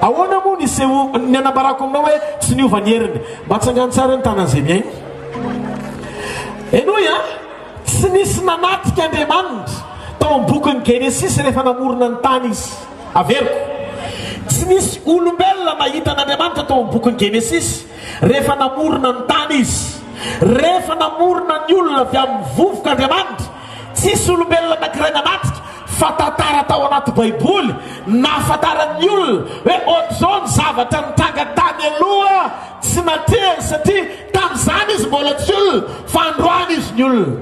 Ahoana moa ny seho, ny anambarako aminao hoe tsy niova ny heriny? Mba tsangano tsara ny tanan'izay mihaino. Henoy an! Tsy nisy nanatrika Andriamanitra tao amin'ny bokin'ny Genesisy rehefa namorona ny tany Izy. Averiko. Tsy nisy olombelona nahita an'Andriamanitra tao amin'ny bokin'ny Genesisy rehefa namorona ny tany Izy. Rehefa namorona ny olona avy amin'ny vovoka Andriamanitra, Tsisy olombelona anankiray nanatrika fa tantara tao anaty baiboly nahafantaran'ny olona hoe ohatr'izao ny zavatra nitranga tany aloha, tsy natrehany satria tamin'izany izy mbola tsy olona fa androany izy ny olona.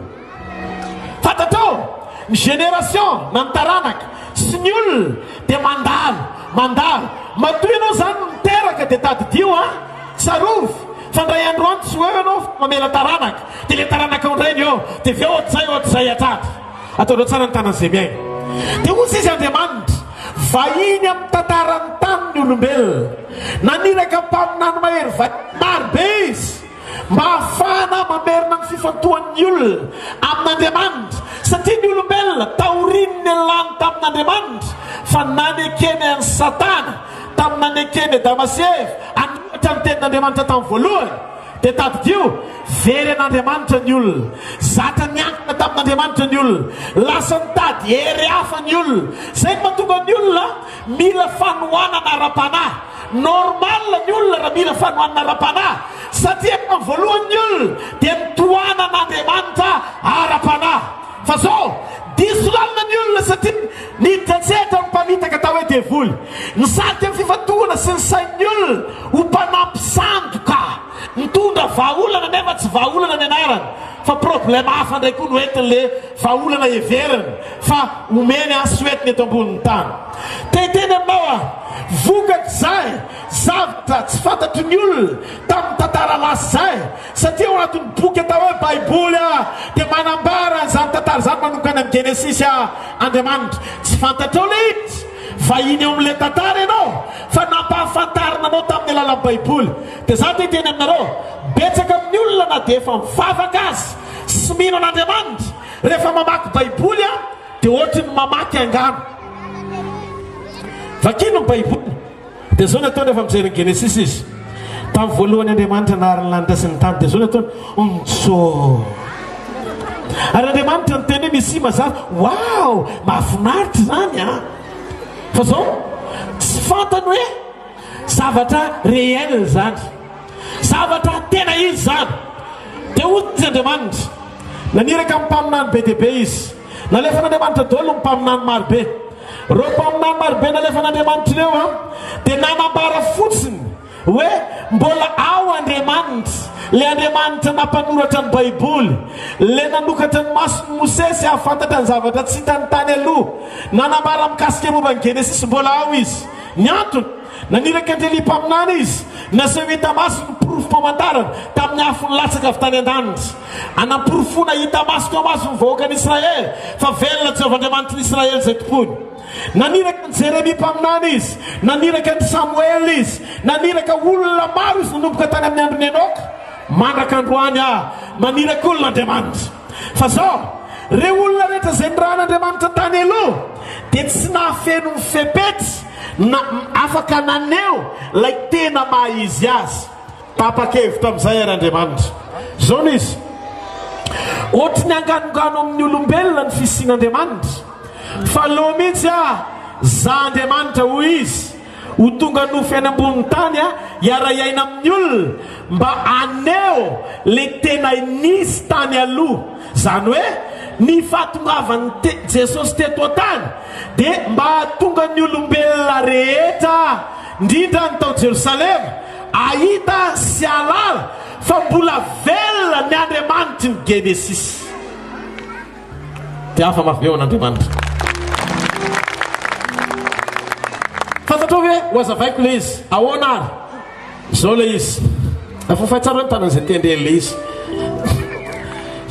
Fantatrao? Ny génération na ny taranaka sy ny olona dia mandalo, mandalo. Matoa ianao izany no niteraka dia tadidio an! Tsarovy! Fa ndray andro any tsy ho eo ianao fa mamela taranaka, dia ilay taranaka ao indray ny eo, dia avy eo ohatr'izay, ohatr'izay hatrany. Ataonao tsara ny tanan'i izay miaina. Dia hoy izy Andriamanitra, Vahiny amin'ny tantaran'ny tany ny olombelona. Naniraka mpaminany mahery vahiny maro be izy mba hahafahana mamerina ny fifantohan'ny olona amin'Andriamanitra, satria ny olombelona taorian'ny nialany tamin'Andriamanitra fa nanekeny an'i Satana, Tamin'ny nanekeny an'i Damasy i Eva hanoratra ny Tenin'Andriamanitra tamin'ny voalohany, dia tadidio, very an'Andriamanitra ny olona. Zatra niankina tamin'Andriamanitra ny olona. Lasa nitady hery hafa ny olona. Izay no mahatonga ny olona mila fanohanana ara-panahy. Normal ny olona raha mila fanohanana ara-panahy, satria tamin'ny voalohany ny olona dia nitohanan'Andriamanitra ara-panahy. Fa zao, diso lalana ny olona satria niditra an-tsehatra ny mpamitaka atao hoe devoly. Nisarika ny fifantohana sy ny sain'ny olona ho mpanampy sandoka. Nitondra vahaolana nefa tsy vahaolana ny anarany fa problème hafa indray koa no entin'le vahaolana heveriny fa omeny an soetiny eto ambonin'ny tany. Te hiteny aminao aho, vokatr'izay zavtra tsy fantatry ny olona tamin'ny tantara lasa izay, Satria ao anatin'ny boky atao hoe Baiboly dia manambara an'izany tantara izany manomkany amin'ny Genesisy Andriamanitra. Tsy fantatrao ilay izy vahiny eo amin'ilay tantara ianao fa nampahafantarina anao tamin'ny alalan'ny Baiboly. Dia za te-hiteny aminareo, betsaka amin'ny olona na dia efa mivavaka aza sy mino an'Andriamanitra, rehefa mamaky Baiboly dia ohatry ny mamaky angano. Vakino ny Baiboly. Dia zao ny ataony rehefa mijery ny Genesisy izy. Tamin'ny voalohany Andriamanitra nahary ny lanitra sy ny tany. Dia zao ny ataony, Ontso! Ary Andriamanitra niteny hoe misy mazava. Wow! Mahafinaritra izany an! Ah. Fa zao, tsy fantany hoe zavatra réel izany. Zavatra tena izy izany. Dia hoy Andriamanitra, naniraka amin'ny mpaminany be dia be izy. Nalefan'Andriamanitra daholo ny mpaminany marobe. Ireo mpaminany marobe nalefan'Andriamanitra ireo dia nanambara fotsiny hoe mbola ao Andriamanitra, ilay Andriamanitra nampanoratra ny Baiboly, ilay nanokatra ny mason'i Mosesy hahafantatra ny zavatra tsy hitany tany aloha. Nanambara mikasika ny momba an'i Genesisy mbola ao izy. Ny antony, naniraka an-dry Elia mpaminany izy, naseho hita maso ny porofom-pamantarana tamin'ny afo nilatsaka avy tany an-danitra. Hanamporofoana hita maso teo maso ny vahoakan'Israely fa velona Jehovah Andriamanitr'i Israely izay tompoiny. Naniraka an'i Jeremia mpaminany izy, naniraka an'i Samoela izy, naniraka olona maro izy nanomboka tany amin'ny andron'i Enoka mandraka androany ah, maniraka olona Andriamanitra. Fa izao, ireo olona rehetra izay nirahan'Andriamanitra tany aloha dia tsy nahafeno ny fepetra na afaka naneho ilay tena maha-izy azy. Tapa-kevitra amin'izay àry Andriamanitra. Izao no izy, Hoatry ny anganongano amin'ny olombelona ny fisian'Andriamanitra, fa lo mihitsy aho, Izaho Andriamanitra, hoy izy, ho tonga nofy any ambonin'ny tany hiara-hiaina amin'ny olona, mba haneho ilay tena nisy tany aloha. Izany hoe ny fahatongavan'i T. Jesosy teto an-tany dia mba hahatonga ny olombelona rehetra, Indrindra ny tao Jerosalema, ahita sy ahalala fa mbola velona ny Andriamanitry ny Genesisy. Dia hafa mafy be ho an'Andriamanitra. Fantatrao ve, hohazavaiko ilay izy. Ahoana ary? Izao ilay izy. Afafay tsara ny tanan'izay te handre an'ilay izy.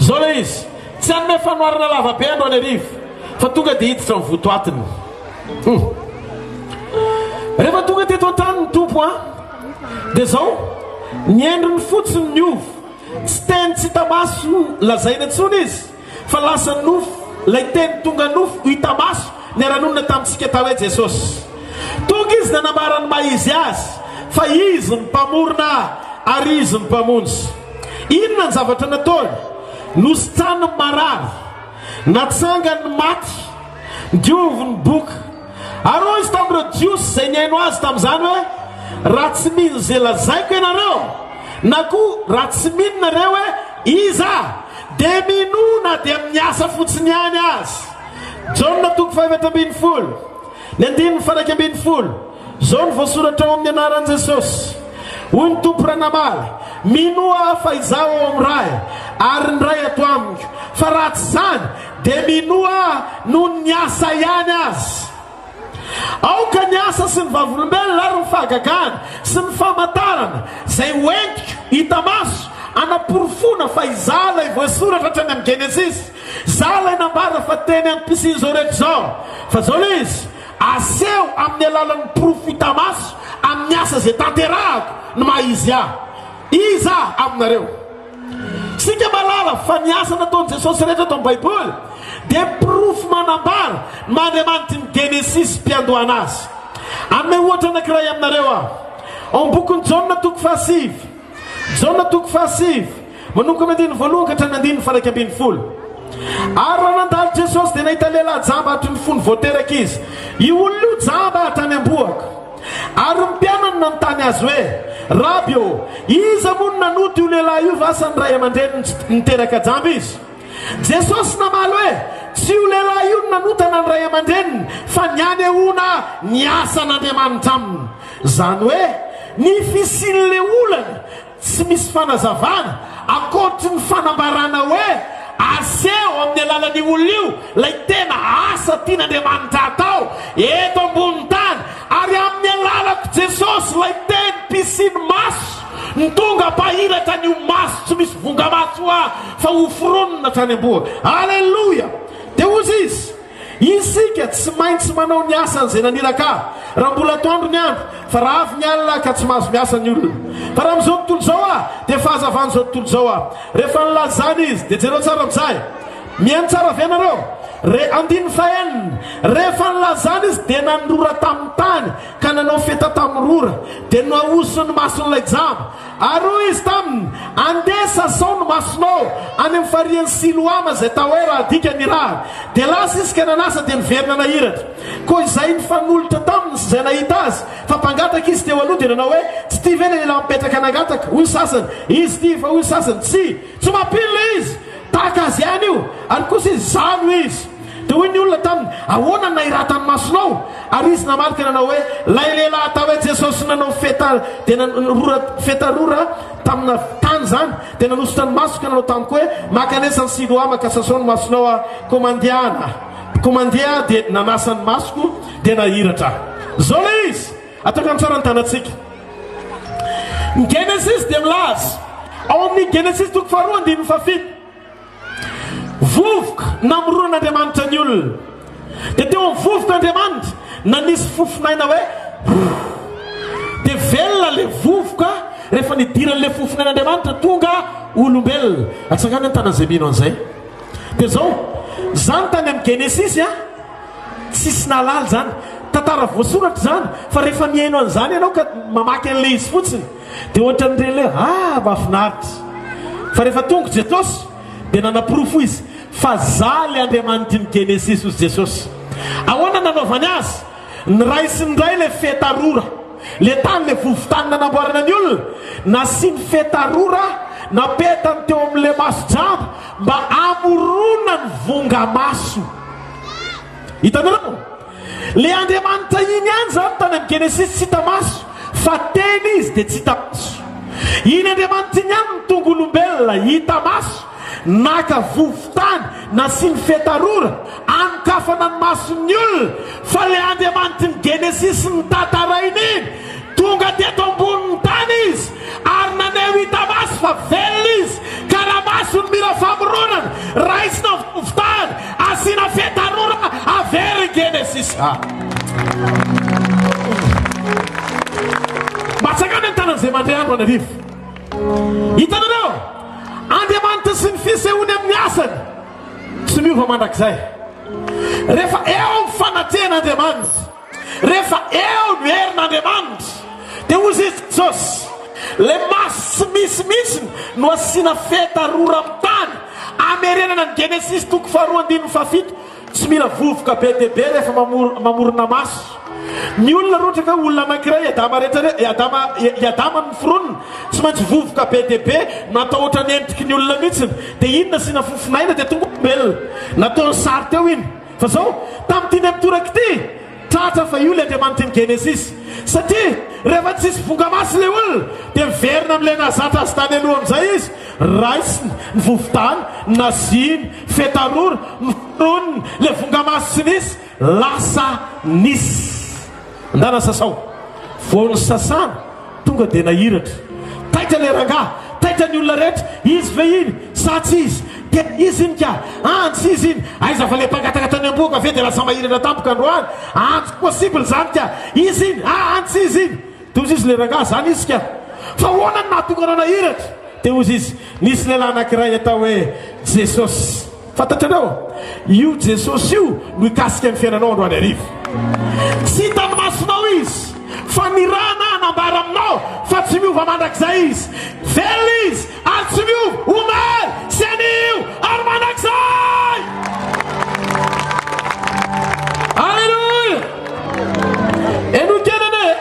Izao ilay izy. Tsy hanome fanoharana lava be androany hariva, fa tonga dia hiditra ny votoatiny. Hum. Rehefa tonga teto an-tany ny tompo a dia izao ny endriny fotsiny ny ovo tsy teny tsy tamaso lazaina intsony izy fa lasa nofo lay teny tonga nofo ho hitamaso ny aranonina tamintsika tao hoe jesosy tonga izy nanambara ny maha izy azy fa izy ny mpamorona ary izy ny mpamonjy inona ny zavatra nataony nositrany ny marary natsangany maty Diovy ny boka. Aroa izy tamin'ireo Jiosy izay nihaino azy tamin'izany hoe, Raha tsy mino izay lazaiko ianareo, na koa raha tsy mino nareo hoe Iza aho, dia minoa na dia amin'ny asa fotsiny ihany aza. Jaona toko fahaefatra ambin'ny folo, ny andininy faha-iraika ambin'ny folo. Izao no voasoratra ao amin'ny anaran'i Jesosy, Hoy ny Tompo raha namaly, Minoa aho fa Izaho ao amin'ny Ray, ary ny Ray ato amiko. Fa raha tsy izany, Dia minoa noho ny asa ihany aza. Aoka ny asa sy ny vavolombelona ary ny fahagagana sy ny famantarana izay ho entiko hita maso hanaporofoana fa izaho ilay voasoratra hatrany amin'ny Genesisy, izaho ilay nambara fa teny ampisin' izao rehetra izao. Fa izao ilay izy, aseho amin'ny alalan'ny porofo hita maso amin'ny asa izay tanterahako ny maha izy ahy. Iza aminareo? Isika mahalala fa ny asa nataon'i Jesosy rehetra eto amin'ny Baiboly dia porofo manambara ny maha Andriamanitry ny Genesisy mpiandohana azy. Hanome ohatra anankiray aminareo aho. Ao amin'ny bokin'i Jaona toko fahasivy, Jaona toko fahasivy, manomboka amin'ny andininy voalohany ka hatramin'ny andininy faha-iraika ambin'ny folo. Ary raha nandalo Jesosy dia nahita lehilahy jamba hatry ny fony vao teraka izy. Io olona io jamba hatrany am-bohoka. Ary ny mpianany nanontany azy hoe, Raby ô, iza moa no nanota io lehilahy io va sa ny ray aman-dreniny tsy niteraka jamba izy? Jesosy namaly hoe, Tsy io lehilahy io no nanota na ny ray aman-dreniny, fa ny hanehoana ny asan'Andriamanitra aminy, izany hoe ny fisian'ilay olana. Tsy misy fanazavana ankoatry ny fanambarana hoe aseho amin'ny alalan'io olona io ilay tena asa tian'Andriamanitra atao eto ambonin'ny tany, ary amin'ny alalako Jesosy ilay teny mpisiny maso no tonga mpahiratra ny ho maso tsy misy vonga-maso ahy fa hoforonina hatrany am-bohaka. Aleloia! Dia hozy izy. Isika tsy maintsy manao ny asan' izay naniraka raha mbola atoandro ny andro, fa raha avy ny alina ka tsy mahazo miasa ny olona. Fa raha amin'izao tontolo izao aho, dia fahazavan'izao tontolo izao aho. Rehefa nilaza izany izy, dia jereo tsara amin'izay. Mihaino tsara ve ianareo? Re, andininy fahenina, Rehefa nilaza izany izy, dia nanorora tamin'ny tany ka nanao feta tamin'ny rora, dia noahosin'ny mason'ilay jamba. Ary hoy izy taminy, Andeha sa zao no masonao any amin'ny farian'i Siloama izay Taoera adika ny rà. Dia lasa izy ka nanasa dia niverina nahiratra. Koa izay nifanolotra taminy sy izay nahita azy fa mpangataka izy teo aloha dia nanao hoe, Tsy ity ve ilay lehilahy mipetraka nangataka? Hoy ny sasany, Izy ity, fa hoy ny sasany, Tsia, tsy mampino ilay izy, tahaka azy ihany io, ary kosa izy, Izaho no izy. Dia hoy ny olona taminy, Ahoana no nahiratany masonao? Ary izy namaly ka nanao hoe, Ilay lehilahy atao hoe Jesosy nanao feta dia rora, feta rora tamina tany izany, dia nanosotra ny masoko ka nanao tamiko hoe, Mankanesa an'i Siloama ka sasao ny masonao aho. Koa mandeha aho na, koa mandeha aho dia nanasa ny masoko dia nahiratra aho. Izao ilay izy. Atao ka mitsara ny tanantsika. Ny Genesisy dia milaza, ao amin'ny Genesisy toko faharoa andininy fahafito, Vovoka namoronan'Andriamanitra ny olona. Dia teo amin'ny vovoka Andriamanitra, nanisy fofon'aina hoe dia velona ilay vovoka rehefa nidiran'ilay fofon'ain'Andriamanitra tonga olombelona. Atsangano ny tanan'izay mino an'izay. Dia izao, izany tany amin'ny Genesisy a, tsisy nahalala izany. Tantara voasoratra izany, fa rehefa mihaino an'izany ianao ka mamaky an'ilay izy fotsiny, Dia ohatran'ny relais hoe ah mafinaritra. Fa rehefa tonga Jesosy dia nanaporofo izy fa za le Andriamanitry ny Genesisy ozy Jesosy. Ahoana nanaovany azy? Niraisiny ndray le feta rora. Le tany le vovotany nanamboarana ny olona, nasiany feta rora napetany teo amin'le maso jamba mba hamorona ny vonga maso. Hitanareo? Le Andriamanitra iny ihany izany tany amin'ny Genesisy tsy hita maso fa Teny Izy dia tsy hita maso. Iny Andriamanitra iny ihany no tonga olombelona hita maso, naka vovo-tany, nasiany fetarora, anokafana ny mason'ny olona, fa le Andriamanitry ny Genesisy notantaraina iny, tonga teto ambonin'ny tany Izy Ary naneho hita maso fa velona izy, ka raha maso ny mira famoronana, raisina ny fofontany, asiana fe tarora, averina i Genesisa. Mba tsakano ny tanan'izay mandre andro an'arivo. Hitanareo? Andriamanitra sy ny fisehony amin'ny asany tsy miova mandrakizay. Rehefa eo amin'ny fanatrehana Andriamanitra. Rehefa eo ny herin'Andriamanitra, dia hoy Zisy Jesosy, ilay maso tsy misy mihitsiny no asiana feta rora amin'ny tany, hamerenana ny Genesisy toko faharoa andininy fahafito, tsy mila vovoka be dia be rehefa mamorona maso. Ny olona raha ohatra ka olona anankiray, i Adama rehetra, i Adama, i Adama no noforonina, tsy maintsy vovoka be dia be, natahotra ny endriky ny olona mihitsiny, dia iny nasiana fofon'aina dia tonga olombelona, nataony sary teo iny. Fa izao, tamin'ity indray mitoraka ity, tratra fa io ilay Andriamanitra ny Genesisy. Satria, rehefa tsy hisy vonga masy ilay olona, dia miverina amin'ilay nahazatra azy tany aloha amin'izay izy, raisiny ny vovo-dala, naziany, fetarora, noforoniny, ilay vonga masy tsy nisy, lasa nisy. Ndana sasao. Vao nisasana tonga dia nahiratra. Taitra le rangah, taitra ny olona rehetra, izy ve iny sa tsy izy? Dia izy iny ka! An tsy izy iny! Aiza fa le mpangataka tany ambohoka ve dia lasa mahiratra tampoka androany? An tsy possible zany ka! Izy iny! A an tsy izy iny! Dia hozy izy le rangah, zany izy ka! Fa ahoana no nahatonga anao nahiratra? Dia hozy izy, nisy lehilahy anakiray atao hoe Jesosy. Fantatrareo? Io Jesosy io no hikasika ny fiainanao androany hariva. Tsy hitan'ny masonao Izy, fa ny ra na hanambara aminao fa tsy miova mandrakizay Izy. Velona Izy ary tsy miova, omaly sy anio ary mandrakizay! Alléluia! Enoy kely anie e!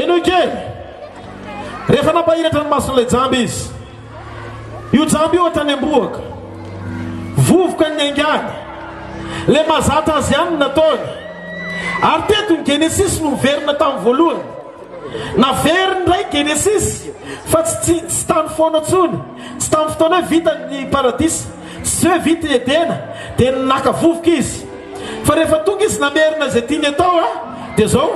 Enoy kely! Rehefa nampahiratra ny mason'ilay jamba Izy, Io jamba io ohatran'ny ambohaka. Vovoka ny aingàny. Ilay mahazatra azy ihany no nataony. Ary teto ny Genesisy no niverina tamin'ny voalohany. Naveriny indray ny Genesisy fa tsy tsy tsy tany foana intsony. Tsy tamin'ny fotoana hoe vita ny paradisa. Tsy hoe vita i Edena dia naka vovoka izy. Fa rehefa tonga izy namerina izay tiany atao dia izao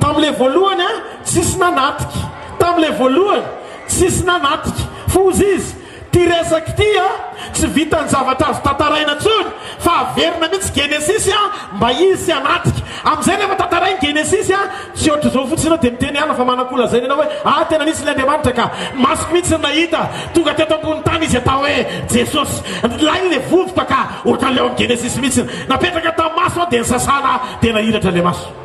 tamin'ilay voalohany tsisy nanatrika. Tamin'ilay voalohany. Tsisy nanatika fa ozy izy ty resaka ty a! Tsy vitan'ny zavatra azo tantaraina tsony fa averina mitsy genesisy a! Mba izy tsy hanatika amizay rehefa tantarainy genesisy a! Tsy ohatr'izao fotsiny enao de miteny ala fa manako lazaina enao hoe ah tena nisy ny Andriamanitra ka! Masoko mitsy no nahita tonga teto ambony tany izy atao hoe Jesosy! Lay le vovoka ka! Ohatran'le ao am genesisy mitsy! Napetraka tam maso an de nisasana de nahiratra le maso!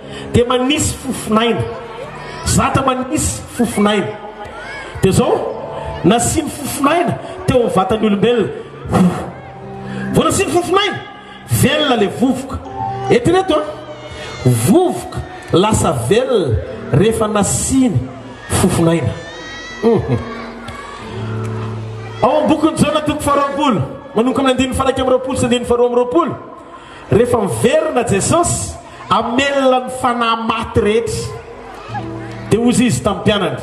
dia manisy fofon'aina, zatra manisy fofon'aina. Dia izao, nasiany fofon'aina teo amin'ny vatan'ny olombelona. Vao nasiany fofon'aina, velona ilay vovoka. Eritrereto an, vovoka lasa velona rehefa nasiany fofon'aina. Ao amin'ny bokin'i Jona toko faharoapolo, manomboka amin'ny andininy fahairaika amby roapolo sy andininy faharoa amby roapolo. Rehefa miverina Jesosy, hamelona ny fanahy maty rehetra. Dia hoy Izy tamin'ny mpianany,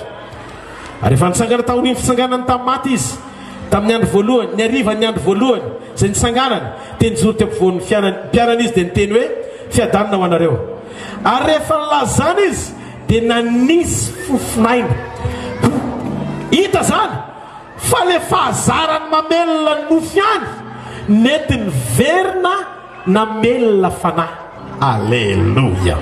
ary efa nitsangana taorian'ny fitsanganany tamin'ny maty Izy, tamin'ny andro voalohany, ny harivan'ny andro voalohany izay nitsanganany, dia nijoro teo ampovoan'ny fianany, mpianany Izy dia niteny hoe, Fiadanana ho anareo. Ary rehefa nilazana Izy, dia nanisy fofon'aina. Hita izany? Fa le fahazarany mamelona ny nofy ihany nety niverina namelona fanahy. Aleloia.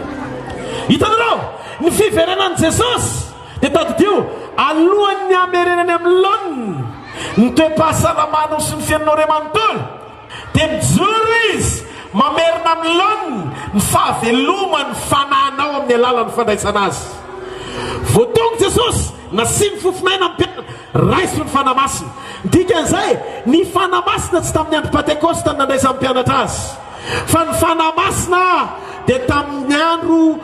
Hitanareo, ny fiverenan'i Jesosy dia tadidio alohan'ny hamerenany amin'ny laoniny ny toe-pahasalamanao sy ny fiainanao iray manontolo. Dia mijoro izy mamerina amin'ny laoniny ny fahaveloman'ny fananao amin'ny alalan'ny fandraisana azy. Voatongo Jesosy, nasiany fofon'aina ny mpianany, raiso ny Fanahy Masina. Ny dikan'izay, ny Fanahy Masina tsy tamin'ny andro Pantekosta no nandraisan'ny mpianatra azy, fa ny Fanahy Masina dia tamin'ny andro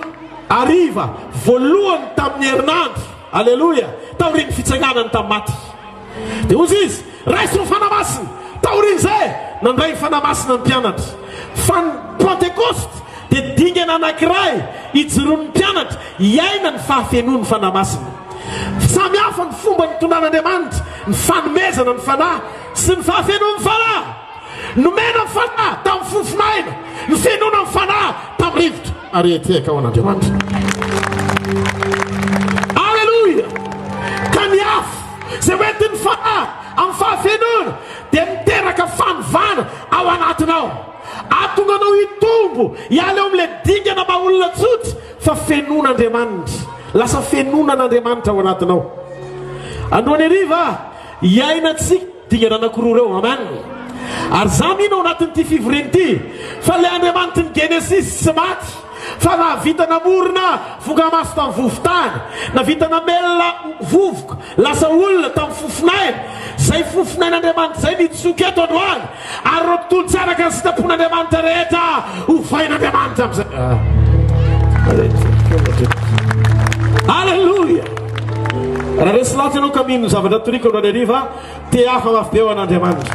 hariva voalohany tamin'ny herinandro, aleloia, taorian'ny fitsanganany tamin'ny maty. Dia hoy izy, Raiso ny Fanahy Masina! Taorian'izay, nandray ny Fanahy Masina ny mpianatra. Fa ny Pantekosta dia dingana anankiray ijoroan'ny mpianatra hiaina ny fahafenoan'ny Fanahy Masina. Samy hafa ny fomba nitondran'Andriamanitra ny fanomezana ny Fanahy sy ny fahafenoan'ny Fanahy. Nomena fanahy tamin'ny fofon'aina, nofenoina amin'ny fanahy tamin'ny rivotra, ary hiatrehaka ho an'Andriamanitra. Aleloia! Ka ny afo izay hoentin'ny fanahy amin'ny fahafenoana dia miteraka fanovana ao anatinao. Ahatonga anao hitombo hiala eo amin'ilay dingana maha olona tsotra fa fenoin'Andriamanitra. Lasa fenoina an'Andriamanitra ao anatinao. Androany hariva, hiainantsika Dingana anakiroa ireo. Amen. Ary za mino ao anatin'ity fivoriana ity fa le Andriamanitry ny Genesisy tsy maty fa nahavita namorona vongamaso tamin'ny vovon-tany, navita namelona vovoka lasa olona tamin'ny fofon'aina, zay fofon'ain'Andriamanitra zay nitsoka eto androany. Ary ireo mpitondra tsy araka ny sitrapon'Andriamanitra rehetra hovain'Andriamanitra amin'izay. Aleloia! Raha resy lahatra ianao ka mino ny zavatra toriko androany hariva, te hafa mafy be ho an'Andriamanitra.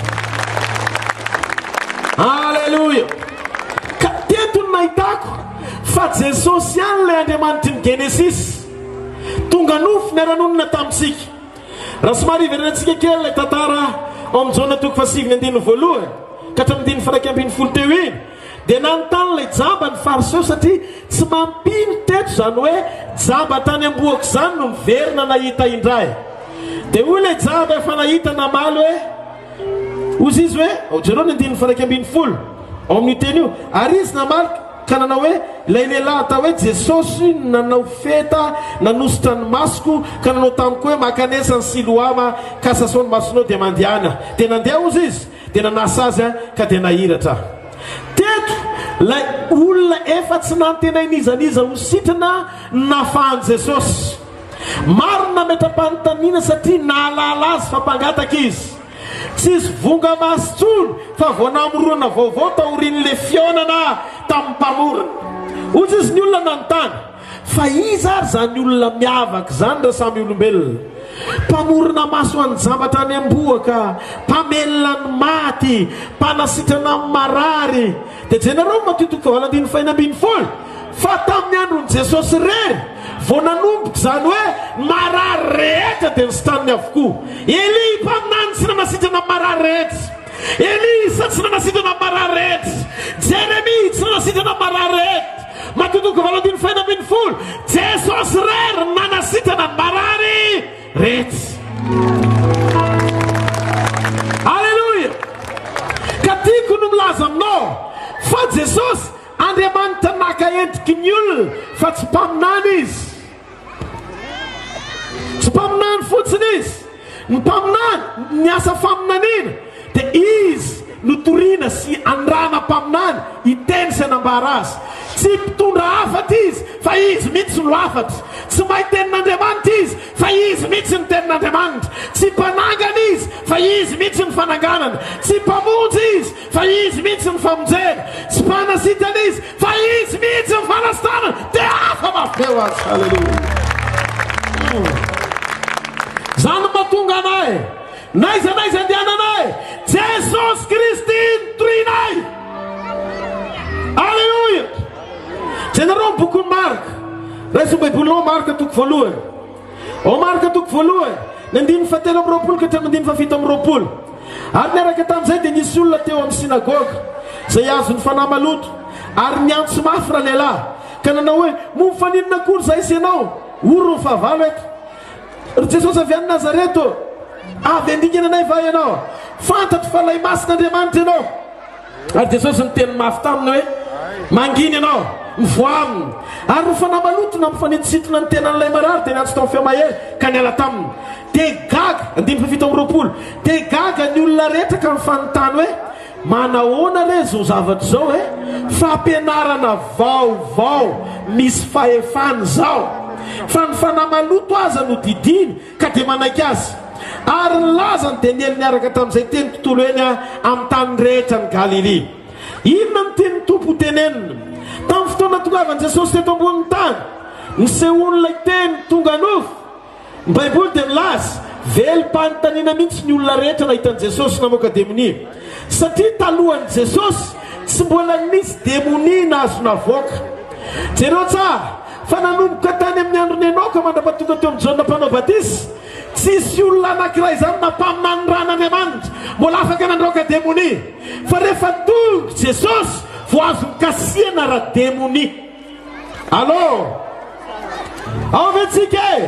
Aleloia! Ka teto no nahitako fa Jesosy ihany ilay Andriamanitry ny Genesisy, tonga nofo niara-nonina tamintsika. Raha somary hiverenantsika kely ilay tantara ao amin'ny Jaona toko fahasiviny andininy voalohany ka hatramin'ny andininy faharaika ambin'ny folo teo iny, dia nanontany ilay jamba ny Fariseo satria tsy mampino teto izany hoe jamba tany am-bohoka izany no miverina nahita indray. Dia hoy ilay jamba efa nahita namaly hoe, Hoy izy hoe, ao Jaona ny andininy faharaika ambin'ny folo, ao amin'io teny io, ary izy namaly, Ka nanao hoe, Ilay lehilahy atao hoe Jesosy nanao feta, nanosotra ny masoko, ka nanao tamiko hoe, Makanesa an'i Siloama, ka sasao ny masonao dia mandehana aho. Dia nandeha ozy izy, dia nanasa azy, ka dia nahiratra aho. Teto, ilay olona efa tsy nantenain'iza n'iza ho sitrana no nafahan'i Jesosy. Maro ny nametra-panontaniana satria nahalala azy fa mpangataka izy. Tsisy vonga maso tsony fa vao namorona vaovao taorian'le fihaonana tamin'ny mpamorona. Hoy tsisy ny olona nanontany fa iza ary zany olona miavaka zany ra samy olombelona. Mpamorona maso anjambatra any ambohoka, mpamelona ny maty, mpanasitrana ny marary. Dia jenareo matoa toko fahavalo andininy fahenina ambin'ny folo. Fa tamin'ny andron'i Jesosy irery vao nanomboka izany hoe ny marary rehetra dia nositaniny avokoa. Elia i mpaminany tsy nanasitrana ny marary rehetra. Elisa tsy nanasitrana ny marary rehetra. Jeremia tsy nanasitrana ny marary rehetra. Matio toko valo andininy fahenina ambin'ny folo, Jesosy irery no nanasitrana ny marary rehetra. Aleloia! Ka tiako no milaza aminao fa Jesosy Andriamanitra naka endriky ny olona fa tsy mpaminany izy. Tsy mpaminany fotsiny izy. Ny mpaminany, ny asa faminaniana dia izy no toriana sy andrana mpaminany hiteny sy hanambara azy. Tsy mpitondra hafatra izy fa izy mihitsy no hafatra. Tsy mahay tenin'Andriamanitra izy fa izy mihitsy no tenin'Andriamanitra. Tsy mpanangana izy fa izy mihitsy no fananganana. Tsy mpamonjy izy Fa izy mihitsy ny famonjena. Tsy mpanasitana izy, fa izy mihitsy ny fanasitanana. Dia hafa mafy be ho azy. Haleloia. Izany no mahatonga anay, n'aiza n'aiza andehananay, Jesosy Kristy no torinay. Haleloia. Jereo ny bokin'i Marka. Raiso ny Baibolinao, Marka toko voalohany. Ao Marka toko voalohany, ny andininy fahatelo amby roapolo ka hatramin'ny andininy fahafito amby roapolo. Ary niaraka tamin'izay dia nisy olona teo amin'ny synagoga, izay azon'ny fanahy maloto, ary niantso mafy ralehilahy, ka nanao hoe, Momba faninona koa ry izahay sy ianao? Ory ny fahavalo eto. Ry Jesosy avy any Nazareto, avy handingana anay va ianao? Fantatro fa ilay Masin'Andriamanitra ianao. Ary Jesosy niteny mafy taminy hoe, Mangina ianao, mivoaha aminy. Ary ny fanahy maloto nampifanintosintona ny tenan'ilay marary dia niantso tamin'ny feo mahery ka niala taminy. Dia gaga, andininy fahafito amby roapolo, dia gaga ny olona rehetra ka nifanontany hoe, Manahoana re izao zavatra izao e? Fampianarana vaovao misy fahefana izao! Fa ny fanahy maloto aza no didiany. ka dia manaiky azy. Ary ny lazany dia niely niaraka tamin'izay teny tontolo eny amin'ny tany rehetra any Galilia. Inona no tian'ny Tompo hotenenina? Tamin'ny fotoana tongavan'i Jesosy teto ambonin'ny tany, nisehoan'ilay Teny tonga nofo. Ny Baiboly dia milaza, Velom-panontaniana mihitsy ny olona rehetra nahita an'i Jesosy namoaka demonia, satria talohan'i Jesosy, tsy mbola nisy demonia nahazo navoaka. Jereo tsara, Fa nanomboka tany amin'ny andron'i Enoka mandra-pahatonga teo amin'i Jaona Mpanao Batisa, tsisy olona anankiray izany na mpaminany ran'Andriamanitra mbola afaka nandroaka demonia. Fa rehefa tonga Jesosy vao azo nikasihana ara-demonia. Allo! Ao ve tsika e?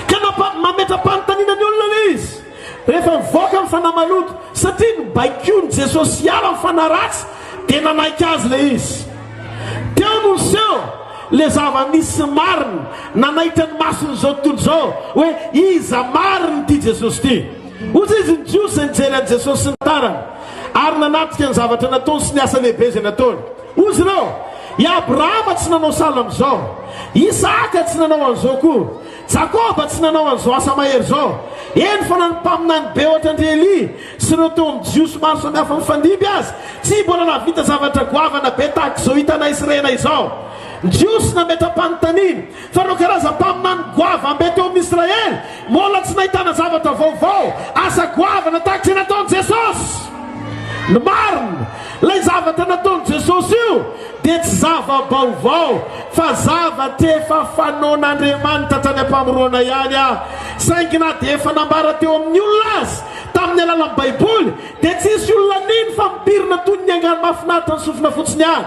Ka nampa- mametra-panontaniana ny olona le izy. Rehefa nivoaka ny fanahy maloto, satria nobaikoin'i Jesosy hiala ny fanahy ratsy, dia nanaiky Azy ilay izy. Teo no niseho ilay zava-misy sy marina, nanaitra ny mason'izao tontolo izao, hoe iza marina ity Jesosy ity. Ozy izy ny Jiosy izay nijery an'i Jesosy sy ny tarany, ary nanatrika ny zavatra nataony sy ny asa lehibe izay nataony. Ozy ireo, I Abrahama tsy nanao sahala amin'izao. Isahaka tsy nanao an'izao koa. Jakoba tsy nanao an'izao asa mahery izao. Eny fa na ny mpaminany be hoatrandry Elia sy ireo teo amin'ny Jiosy maro samihafa mifandimby aza, tsy mbola nahavita zavatra goavana be tahaka izao hitanay sy renay izao. Ny Jiosy nametra-panontaniana fa ireo karazam-paminany goavambe teo amin'ny Israely mbola tsy nahitana zavatra vaovao, asa goavana tahaka izay nataon'i Jesosy. Ny marina, ilay zavatra nataon'i Jesosy io dia tsy zava-baovao fa zavatra efa fanaon'Andriamanitra hatrany am-pamoroana ihany aho, saingy na dia efa nambara teo amin'ny olona aza tamin'ny alalan'ny Baiboly, dia tsy hisy olona nino fa mipirina toy ny angano mahafinaritra ny sofina fotsiny ihany.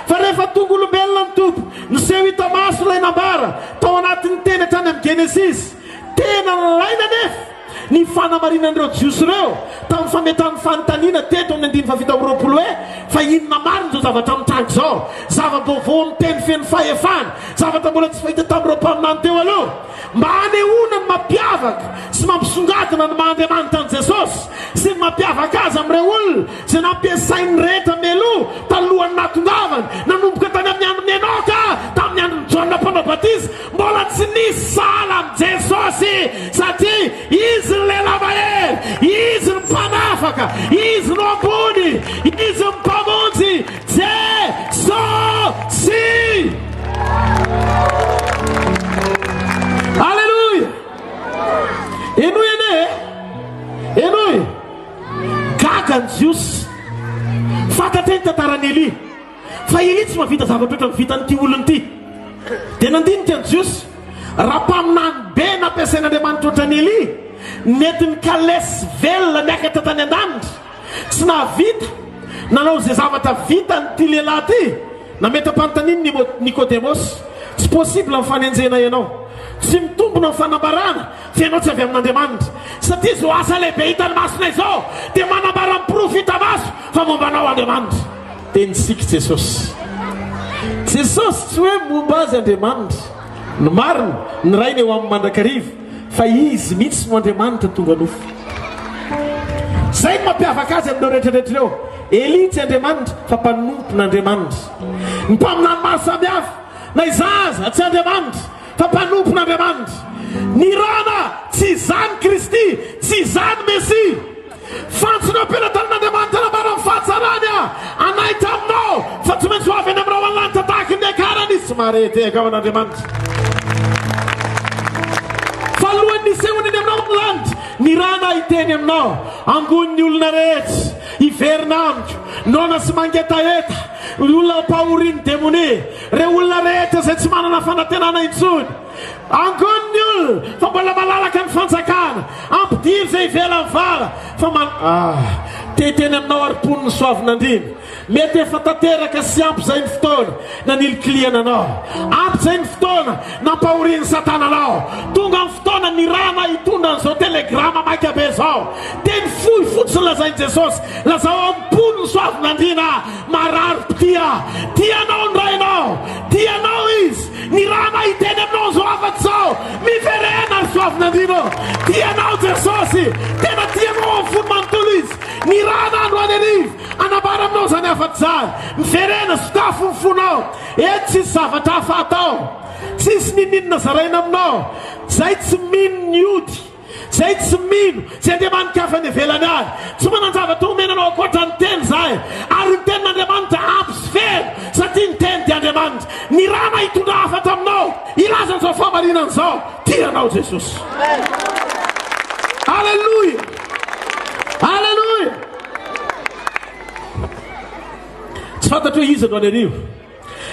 Fa rehefa tonga olombelona ny Tompo, niseho hita maso ilay nambara tao anatin'ny Teny hatrany amin'ny Genesisy. Tena nilaina anefa. Ny fanamarinan'ireo Jiosy ireo tamin'ny fametrahan'ny fanontaniana teto amin'ny andininy fahafito amby roapolo hoe, Fa inona marina izao zavatra mitranga izao? Zava-baovao amin'ny teny feno fahefana, zavatra mbola tsy fahita tamin'ireo mpaminany teo aloha. Mba hanehoana ny mampiavaka sy mampisongadina ny maha Andriamanitra an'i Jesosy sy ny mampiavaka azy amin'ireo olona izay nampiasain'ny rehetra mialoha talohan'ny nahatongavany, nanomboka tany amin'ny andron'i Enoka tamin'ny andron'i Jaona Mpanao Batisa, Mbola tsy nisy sahala amin'i Jesosy satria Izy ny Lehilahy Mahery, Izy ny Mpanafaka, Izy no Ambony, Izy ny Mpamonjy, Je-so-sy! Aleloia! Henoy anie e! Henoy! Gaga ny Jiosy. Fantatra ny tantaran'i Elia. Fa iry tsy mahavita zavatra ohatran'ny vitan'ity olona ity. Dia nandinika an'i Jiosy, Raha mpaminany be nampiasain'Andriamanitra ohatran'i Elia, nentin'i Kalès velona niakatra tany an-danitra, tsy nahavita nanao izay zavatra vitan'ity lehilahy ity. Nametra-panontanian'i Nikodemosy, Tsy possible ny fanenjehana ianao. Tsy mitombina ny fanambarana fa ianao tsy avy amin'Andriamanitra. Satria izao asa lehibe hitan'ny masonay izao dia manambara ny porofo hita maso fa momba anao Andriamanitra. Tenintsika Jesosy. Jesosy tsy hoe momba azy Andriamanitra. Ny marina, ny Rainy eo aminy mandrakariva, fa Izy mihitsy no Andriamanitra tonga nofo. Izay no mampiavaka Azy amin'ireo rehetrarehetra ireo. Elia tsy Andriamanitra, fa mpanompon'Andriamanitra. Ny mpaminany maro samihafa, na izaho aza, tsy Andriamanitra, fa mpanompon'Andriamanitra. Ny Rana, tsy izany Kristy, tsy izany Mesia. Fantsona eo am-pelatanin'Andriamanitra anambara ny fahatsarany anay taminao fa tsy maintsy ho avy any amin'ny rahona lanitra tahaka ny Niakarany izy tsy mahare tehaka ao an'Andriamanitra. Fa alohan'ny nisehoany any aminao ny lanitra, nirana hiteny aminao, Angoy ny olona rehetra hiverina amiko, noana sy mangetaheta, ny olona mpahorian'ny demonia, ireo olona rehetra izay tsy manana fanantenana intsony. Angon ny olona fa mbola malalaka ny fanjakana, ampidiro zay ivelany vara fa man ah te hiteny aminao ary mponin'i Soavinandriana, mety efa tanteraka sy ampy zay ny fotoana nanilikilihana anao, ampy zay ny fotoana nampahorian'i satana anao, tonga ny fotoana nirahana hitondra an'izao telegrama maika be zao, teny fohy fotsiny lazain'i Jesosy, lazao amin'ny mponin'i Soavinandriana ah, marary mpitia, tia anao ny Rainao, tia anao izy. Ny raha mahiteny aminao zao afatsy zao miverena ry soavinandriana ô tia anao jesosy tena tia anao amin'ny fony manontolo izy ny raha na androany arivo anambara aminao zany afatsy zany miverena sokafo ny fonao eto tsisy zavatra hafa atao tsisy nininona zaraina aminao zay tsy mino ny ody Zay tsy mino, tsy andeha manika hafa any ivelany any. Tsy manan-javatra homena anao ankoatra ny Teny izahay, ary ny Tenin'Andriamanitra ampy sy very, satria ny Teny dia Andriamanitra. Ny Rana hitondra hafatra aminao, hilaza an'izao fahamarinana izao, Tia anao Jesosy. Aleloia! Aleloia! Tsy fantatro hoe iza no any arivo.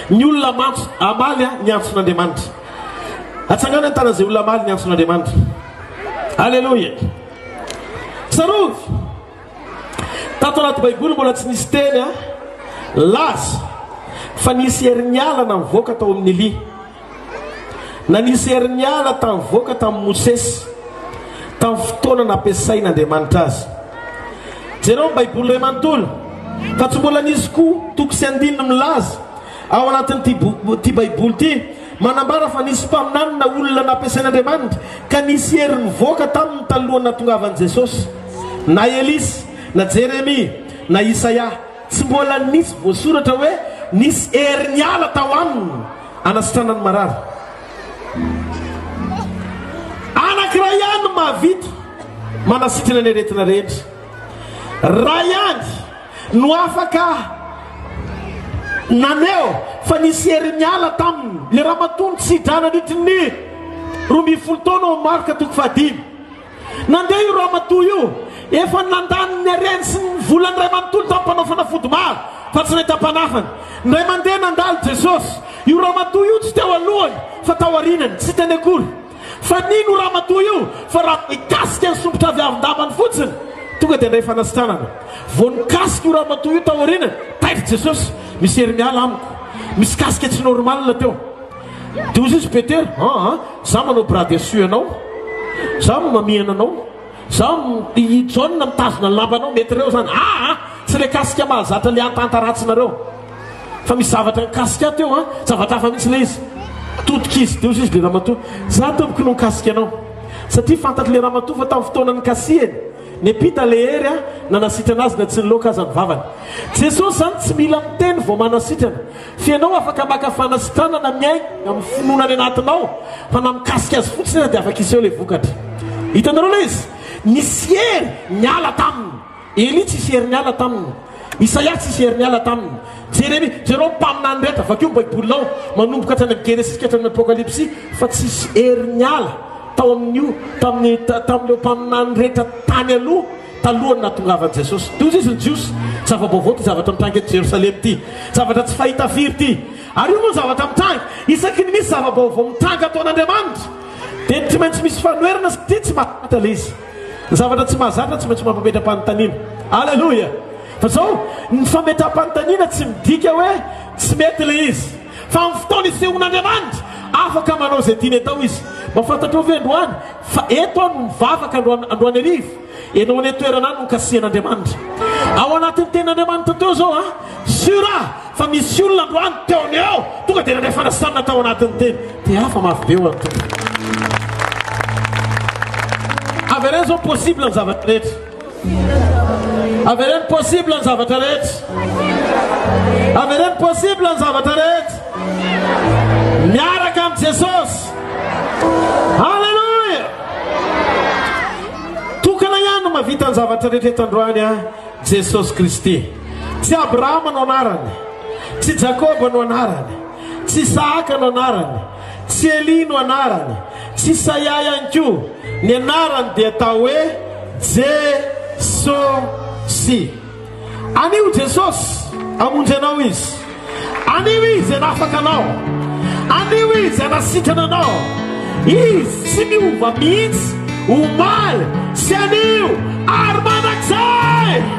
Ny olona mantso hamaly ny antson'Andriamanitra. Atsangano ny tanan'izay olona hamaly ny antson'Andriamanitra. Aleloia. Tsarovy, tato anaty Baiboly mbola tsy nisy teny laza fa nisy herin'ny alina nivoaka tao amin'ny lia. Nanisy herin'ny ala tavoaka tamin'i Mosesy tamin'ny fotoana nampiasain'Andriamanitra azy. Jereo ny Baiboly iray manontolo fa tsy mbola nisy koa toko sy andininy milaza ao anatin'ity Baiboly ity manambara fa nisy mpaminany na olona nampiasain'Andriamanitra ka nisy hery nivoaka tamin'ny talohan'ny natongavan'i Jesosy na Elisy na Jeremia na Isaia. Tsy mbola nisy voasoratra hoe nisy hery niala tao aminy hanasitrana ny marary. Anankiray ihany no mahavita manasitrana ny aretina rehetra. Ray ihany no afaka naneho fa nisy hery niala taminy ilay ramatoa nitsidra nandritry ny roa ambin'ny folo taona ao amin'ny Marka toko fahadimy. Nandeha io ramatoa io, efa nandany ny hareny sy ny volany iray manontolo tamin'ny mpanao fanafody maro, fa tsy nahita mpanafany. Indray mandeha nandalo Jesosy. Io ramatoa io tsy teo alohany, fa tao arinany. Tsy hiteny akory. Fa nino io ramatoa io, fa raha mikasika ny sompitra avy avin-dambany fotsiny, tonga dia handray fanasitranana. Vao nikasika io ramatoa io tao arinany, taitra Jesosy, Misy hery miala amiko. Misy kasika tsy normal teo. Dia hoy Jesosy, Petera, aa, za manao bras dessus anao, za no mamihana anao, za no, i Jaona mitazona ny lambanao, mety reo zany, aa, tsy le kasika mahazatra le antanta ratsinareo, fa misy zavatra nikasika ahy teo an, zavatra hafa mihitsy le izy, todika izy, dia hoy Jesosy, le ramatoa, za tompoko no nikasika anao, satria fantatry le ramatoa fa tamin'ny fotoana nikasihany, niampita le hery an, nanasitrana azy na tsy niloaka aza ny vavany. Jesosy zany tsy mila miteny vao manasitrana. Tsy ianao afaka maka fanasitranana miainga amin'ny finoana any anatinao fa na mikasika azy fotsiny aza dia afaka hiseho ilay vokatra. Hitanareo ilay izy? Nisy hery niala taminy. Elia tsy hisy hery niala taminy. Isaia tsy hisy hery niala taminy. Jeremia, jereo ny mpaminany rehetra, vakio ny Baibolinao, manomboka hatrany amin'ny Genesisy ka hatrany amin'ny Apokalypsy, fa tsy hisy hery niala tao amin'io, tamin'ny, tamin'ireo mpaminany rehetra tany aloha. Talohan'ny nahatongavan'i Jesosy toy izay sy ny Jiosy, tsy zava-baovao ity zavatra mitranga eto Jerosalema ity. Zavatra tsy fahita firy ity. Ary io moa ny zavatra mitranga. Isaky ny misy zava-baovao mitranga ataon'Andriamanitra, dia tsy maintsy misy fanoherana satria tsy mahazatra ilay izy. Ny zavatra tsy mahazatra tsy maintsy mampametra-panontaniana. Aleloia! Fa izao, ny fametra-panontaniana tsy midika hoe tsy mety ilay izy. Fa amin'ny fotoana isehoan'Andriamanitra, afaka manao izay tiany atao izy. Mba fantatrao ve androany? Fa eto aho no mivavaka androany, androany hariva, ianao any an-toerana any no kasihan'Andriamanitra. Ao anatin'ny tenin'Andriamanitra teo izao an! Sûr aho fa misy olona androany teo amin'ny ao tonga dia nandray fanasana tao anatin'ny teny. Te hafa mafy be ho an'ny Tompo. Avereno izao possible ny zavatra rehetra. Avereno possible ny zavatra rehetra. Avereno possible ny zavatra rehetra. Miaraka am Jesosy. Alléluia. Tokana ihany no mavita ny zavatra rehetra eto androany a Jesosy Kristy. Tsy Abrahama no anarany. Tsy Jakoba no anarany. Tsy Isahaka no anarany. Célie no anarany. Tsy Saia ihany koa. Ny anarany dia atao hoe Jesosy. Anio Jesosy hamonjy anao Izy. Anio Izy hanafaka anao. Anio Izy hanasitrana anao. Izy tsy miova mihitsy, omaly sy anio ary mandrakizay.